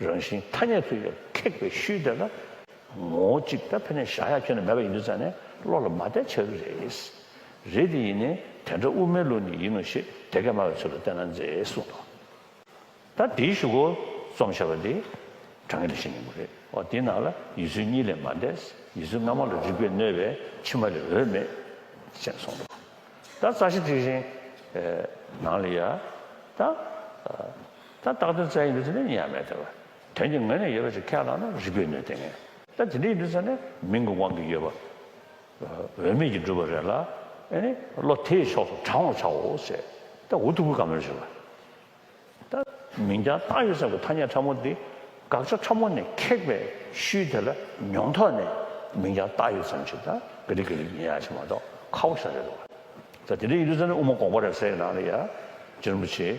རང་བཞིན་ཐ་སྙད་ཚུལ་ལས་ཁེགས་པའི་ཤུལ་དེ་ལ། ངོ་བོ་གཅིག་ད་ཕན་ནས་བཞག་ཡ་ཁྱོན་ནས་མེད་པ་ཡིན་དུས་ཙང་ནས་བློ་ལ་མ་བསྟན་ཆགས་རྒྱུ་རེད། རེད་དེ་ཡིན་ནའི་དེ་འདྲ་དབུ་མའི་བློ་ནི་ཡིན་ནོ་ཞེས་དེ་སྐད་སྨྲ་བའི་ཚུལ་ལ་བལྟས་ན་མཛེས་གསུངས་འདུག་ད་དེའི་བཞུགས་སྒོ་རྩོམ་བྱ་བ་འདི་དྲང་ངེས་ལས་ཤིན་ནས་མོ་རེད་འོ་དེའི་ནང་ལ་ཡུལ་ཚུལ་གཉིས་ལས་མ་འདས་ཡུལ་ཚུལ་སྔ་མ་ལ་རིགས་པས་གནོད་པའི་ཕྱི་མ་ལས་འོས་མེད། ཅེས་གསུངས་འདུག་ད་རྩ་ཤེ་དྲི་བཞིན། ནང་ལ་ཡ། ད། ད་རྟགས་དོན་རྩ་ཡིན་དུ་ཚུད་ན་ཡིན་ཡང་མེད་ཐལ། དོན་གྱི་ངོས་ནས་ཡོད་པ་ཞིག་ཁས་བླངས་ན་རིགས་པས་ནུས་ལྡན་ངེས། ད་དེ་འདྲ་ཡིན་དུ་ཚུད་ན་མིང་གི་དབང་གིས་ཡོད་པ། འོས་མེད་ཀྱིས་བསྒྲུབས་པ་རེད་ལ། ཨེ་ནི། བློ་དེའི་ཕྱོགས་སུ་དྲང་བར་བྱའོ། ཟེར། ད་འུ་ཐུག་གི་ག་མེར་བྱེད་པ། ད། མིང་རྐྱང་རྟགས་ཡོད་ས་གི་ཐ་སྙད་ཕྲ་མོ་འདི། དགག་བྱ་ཕྲ་མོ་ནས་ཁེགས་པའི་ཤུལ་དེ་ལ་མྱོང་ཐོག་ནས། མིང་རྐྱང་རྟགས་ཡོད་ཙམ་ཞིག་ད་ག་རིག་ག་རིག་ཡིན་ཡག་བྱེད་མ་གཏོགས་ཁག་པོ་ཤ་རེད། ད་དེ་འདྲ་ཡིན་དུ་ཚུད་ན་དབུ་མ་འགོག་པ་རེད་ཟེར་ཡི་ན་ལ་ཡ། རྗེ་རིན་པོ་ཆེ།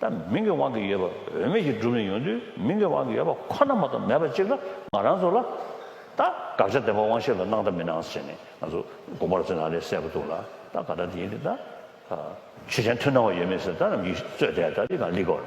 ད་མིང་གི་དབང་གིས་ཡོད་པ་འོས་མེད་ཀྱི་སྒྲུབ་ནས་ཡོང་དུས་མིང་གི་དབང་གིས་ཡོད་པ་ཁོ་ན་མ་གཏོགས་མེད་པ་གཅིག་ལ་ང་རང་ཚོ་ལ། ད་དགག་བྱ་བདེན་པ་དབང་ཤེས་ལ་གནང་ད་མི་གནང་ཟེར་ནས་ང་ཚོ་དགོངས་པར་བརྩི་ན་ལས་གསལ་པོ་འདུག་ལ་ད་ག་ད་དེ་ཡིན་ཏེ་ད། ཆོས་ཅན་མཐུན་སྣང་བ་ཡོད་མེད་ཟེར་ད་རང་གིས་རྩོད་དེ་ད་དེ་གང་ལེགས་དགོས།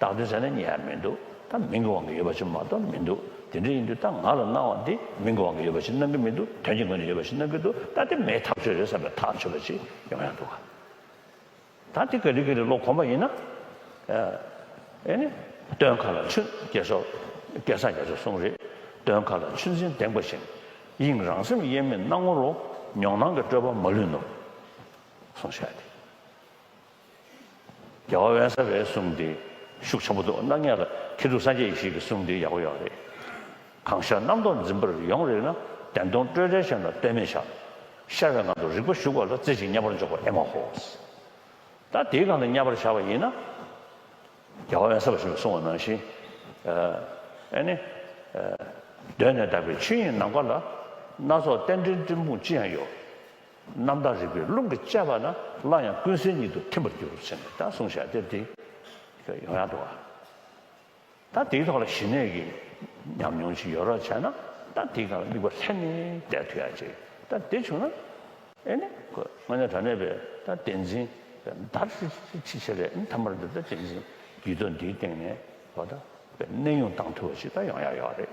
བཏང་དོན་ཟེར་ན་ཉེ་ཡ་མི་འདུག་ད་མིང་གི་དབང་གིས་ཡོད་པ་ཞིག་མ་གཏོགས་མི་འདུག་དེ་འདྲ་ཡིན་དུས་ད་ང་ལ་གནང་བ་འདི་མིང་གི་དབང་གིས་ཡོད་པ་ཞིག་གནང་གི་མི་འདུག་དོན་གྱི་ངོས་ནས་ཡོད་པ་ཞིག་གནང་གི་འདུག་ད་དེ་མེད་ཐག་ཆོད་རེད་བསམ་པའི་ཐག་ཆོད་པ་ཞིག་ཡོང་ཡ་འདུག་ག་ད་འདི་ག་རི་ག་རི་ལོག་གོམས་པ་ཡིན་ན་ཨེ་ནི་སྟོན་ཁ་ལ་ཆུ་སྐྱེས་སོགས་སྐལ་བཟང་རྒྱ་མཚོས་གསུངས་རེད་སྟོན་ཁ་ལ་ཆུ་འཛིན་འདེང་པ་བཞིན་དབྱིངས་རང་སེམས་དབྱེར་མེད་སྣང་ངོ་རོ་མྱོང་སྣང་གི་སྤྲོས་པ་མ་ལུས་ནོ་གསུངས་བཞག་སྟེ། རྒྱལ་བ་དབེན་ས་བའི་གསུང་དེ་ཤུགས་ཆེན་པོ་འདུག་སྣང་བརྙན་ལ་ཁྱེད་ཚོ་སངས་རྒྱས་ཡེ་ཤེས་ཀྱི་གསུང་དེ་ཡག་པོ་ཡག་པོ་རེད། གང་ཤར་རྣམ་རྟོག་འཛིན་པར་ཡོང་རེག་ན་བདེན་སྟོང་སྤྲོས་བྲལ་ཞབས་ལ་ལྟོས་མེད་བཞག། ཤར་བའི་ངང་དུ་རིག་པ་གཞུག་བ་ལ་རྩེ་གཅིག་མཉམ་པར་འཇོག་པ་ཨེ་མ་ཧོ། ད་དེའི་སྒང་ལ་མཉམ་པར་བཞག་པ་ཡིན་ན། རྒྱལ་བ་དབེན་ས་བ་ཞིག་ལ་གསུང་བ་ནང་བཞིན། ཨེ་ནི། གདོད་ནས་དག་པའི་ཆོས་དབྱིངས་ནམ་མཁའ་ལ། སྣ་ཚོགས་རྟེན་འབྲེལ་སྤྲིན་ཕུང་ཅི་ཡང་ཡོད། རྣམ་དག་རིག་པའི་རླུང་གིས་བཅད་པ་ན་སླར་ཡང་ཀུན་གསལ་ཉིད་དུ་ཐིམ་པར་འགྱུར་ཟེར་ནས་ད་གསུངས་བྱ་དེབ་འདི་ཡང་ཡང་འགྲོ་བ། ད་དེའི་ཐོག་ལ་ཞི་གནས་ཀྱི་ཉམས་མྱོང་ཅིག་ཡོད་རོགས་བྱས་ན་ད་དེའི་སྒང་ལ་དམིགས་པ་ལྷན་ནེ་བསྡད་ཐུ་ཡག་ཅིག་ད་དེ་བྱུང་ན་ཨེ་ནེ་གོ་ང་ཉག་དྲ་གནས་པས་ད་བསྟན་འཛིན་བདར་སི་སི་ཆི་ཆི་རེད་མཐའ་མར་འདི་ད་བསྟན་འཛིན་བརྒྱུད་ཐོ་འདིའི་སྟེང་ནས་གོ་ད་པས་གནས་དབྱུང་བཏང་ཐུ་བ་ཞིག་ད་ཡོང་ཡག་ཡོག་རེད།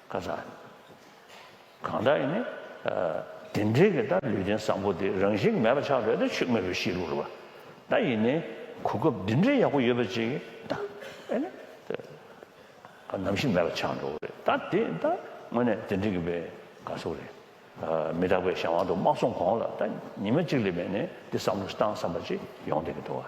ཁ་སང། གང་ལྟར་ཡིན། དེ་འབྲེལ་གྱི་ད་ལུས་རྟེན་བཟང་པོ་དེ་རང་བཞིན་མེད་པ་ཆགས་བྲལ་དུ་ཆུད་མེད་པའི་གཤིས་ལུགས་རེད་བ། ད་ཡིན་ནའི་གོ་སྐབས་འདི་འདྲའི་ཡག་པོ་ཡོད་པ་ཅིག་ད་ཨེ་ནས་ད་ནམ་ཞིག་མེད་པ་ཆགས་འགྲོ་གི་རེད་ད་དེ་ད་དངོས་གནས་དེ་འདྲི་གི་བའི་དགའ་ཚོར་རེད། མི་རྟག་པའི་གཞན་དབང་དུ་དམག་སོང་གོང་ལ་ད་ཉི་མ་གཅིག་ལས་མེད་ནས་འདི་བསམ་བློ་བཏང་བསམ་པ་ཅིག་ཡོང་བསྡད་གི་འདུག་བ།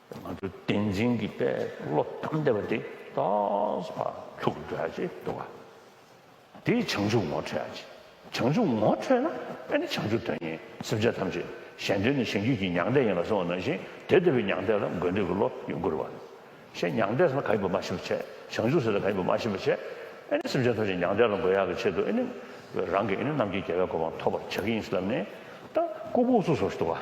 ང་ཚོ་བསྟན་འཛིན་གྱི་དཔལ་བློ་བསྡམས་བསྡད་པ་དེ་རྟགས་པར་ཐུག་འགྲོ་ཡ་ཆེ་འདུག་ག་དེ་བྱང་ཆུབ་ངོ་འཕྲོད་ཡ་ཆེ་བྱང་ཆུབ་ངོ་འཕྲོད་ན་དཔེ་ནི་བྱང་ཆུབ་དོན་གཉེར་སེམས་ཅན་ཐམས་ཅད་གཞན་དོན་ནི་གཞན་རྒྱུད་ཀྱི་མྱང་འདས་ཡིན་ལ་སོང་བ་ནང་བཞིན་དེ་ལྟ་བུའི་མྱང་འདས་ལ་དགོས་འདོད་ཀྱི་བློ་ཡོད་དགོས་རུ་བ་རེད་ཤེ་མྱང་འདས་ཟེར་ན་ག་ཡིན་པ་མ་ཤེས་པ་བྱས་བྱང་ཆུབ་ཟེར་ན་ག་ཡིན་པ་མ་ཤེས་པ་བྱས་ཨེ་ནི་སེམས་ཅན་ཐམས་ཅད་མྱང་འདས་ལ་དགོས་ཡ་གི་ཆེད་དུ་ཨེ་ནི་རང་གི་ཨེ་ནི་རྣམས་ཀྱི་རྒྱལ་བའི་གོ་འཕང་ཐོབ་པར་བྱ་གི་ཡིན་སེམས་ནས་ད་ཀོ་ཕུགས་སུ་སོར་ཞིག་འདུག་ག།